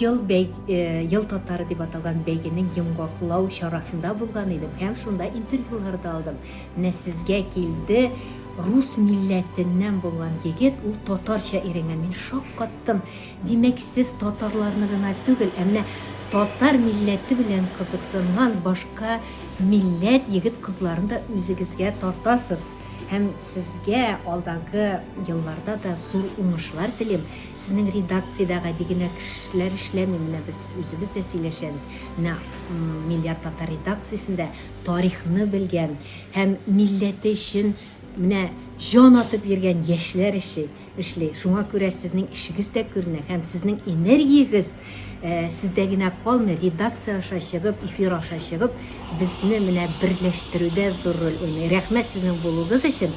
Ел, бәй, ел татары дип аталган бәйгенең йомгаклау чарасында булган идем һәм шунда интервьюлар да алдым. Менә сезгә килде рус милләтеннән булган егет, ул татарча өйрәнгән. Мин шаккаттым. Димәк, сез татарларны гына түгел, ә менә татар милләте белән кызыксынган башка милләт егет кызларын да үзегезгә тартасыз һәм сезгә алдагы елларда да зур уңышлар телим Сезнең редакциядә гади генә кешеләр эшләми, менә без үзебез дә сөйләшәбез. Менә Миллиард татар редакциясендә тарихны белгән һәм милләте өчен менә җан атып йөргән яшьләр эши, эшли. Шуңа күрә сезнең эшегез дә күренә һәм сезнең энергиягез э, сездә генә калмый, редакция аша чыгып, эфир аша чыгып, безне менә берләштерүдә зур роль уйный. Рәхмәт сезнең булуыгыз өчен.